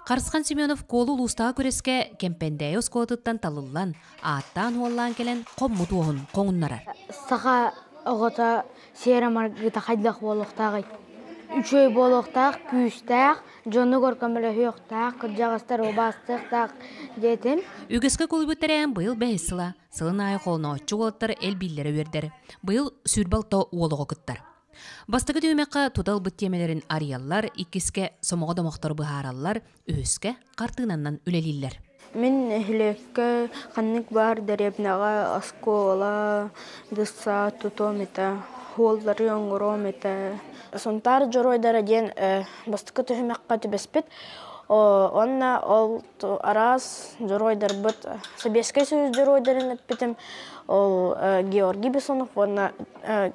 Харысхан Семенов куолу улуустааҕы күрэскэ Кэмпэндээйи оскуолатыттан талыллан, ааттаан-уоллаан кэлэн хоммут уоһун хоҥуннарар. Саха оҕото сиэрэ маргыта хайдах буолуохтааҕый? Үчүгэй буолуохтаах, күүстээх, дьонугар көмөлөһүөхтээх, кырдьаҕастар убаастыахтаах диэтим. Үгэскэ куолуйбут тэрээһин быйыл бэһис сыла, сылын аайы холонооччу уолаттар элбииллэрэ үөрдэр. Быйыл сүүр балта уол оҕо кыттар. Бастакы түмэххэ тута ылбыт тиэмэлэрин арыйаллар, иккискэ сомоҕо домохтору быһаараллар, үһүскэ хартыынанан үлэлииллэр. Мин нэһилиэккэ ханнык баар дэриэбинэҕэ, оскуола, детсад тутуом этэ, уоллары оҥоруом этэ. Сунтаар дьоруойдара диэн бастакы түһүмэххэ түбэспит. Уонна ол араас дьоруойдарбыт сэбиэскэй союз дьоруойдарын эппитим ол Георгий Бессонов уонна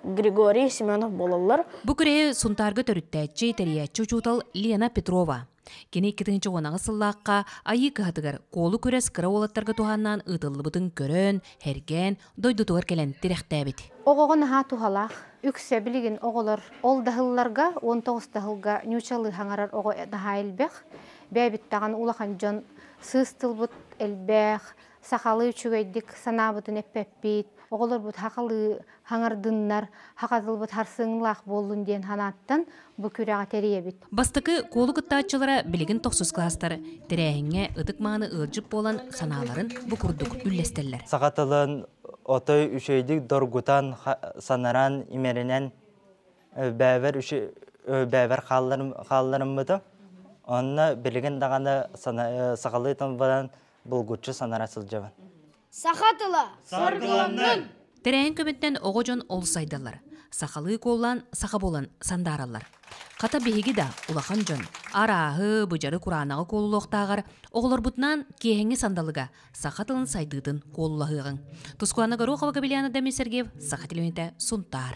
Григорий Семенов буолаллар. Бу күрэһи Сунтаарга төрүттээччи, тэрийээччи учуутал Лена Петрова. Кини иккитинчи уонаҕы сыллаахха Айыы кыһатыгар куолу күрэс кыра уолаттарга туһааннаан ыытыллыбытын көрөн, эргээн дойдутугар кэлэн тирэхтээбит. Оҕоҕо наһаа туһалаах. Үксэ билигин оҕолор ол даһылларга, уон тоҕус даһылга ньуучалыы хаҥарар оҕо наһаа элбэх. Бэйэбиттэҕин улахан дьон сыыс тылбыт элбэх, сахалыы үчүгэйдик санаабытын эппэппит, оҕолорбут хахалыы хаҥардыннар, хаха тылбыт харсыҥлаах буоллун диэн санааттан бу күрэҕи тэрийэбит. Бастакы куолу кыттааччылара билигин тохсус класстар тэрээһиҥҥэ ытык-мааны ыалдьыт буолан санааларын бу курдук үллэстэллэр. Саха тылын отой үчэйдик доргутан, санаран, имэринэн өлбөөбөр өлбөөбөр хаалларыммытым. Онно билигин даҕаны сахалыы тылбынан булгуччу санара сылдьабын. Саха тыла саргыланнын! Тэрээһин көмүттэн оҕо дьон олус айдаллар. Сахалыы куоллаан саха буолан сандаараллар. Хата биһиги да улахан дьон арааһы, быдьары кураанаҕы куолулуохтааҕар оҕолорбутунаан киэһэҥҥи сандалыга саха тылын сайдыытын куолулаһыаҕыҥ. Тускуана Горохова Габельяна Демин Сергеев Саха телевидение Сунтаар.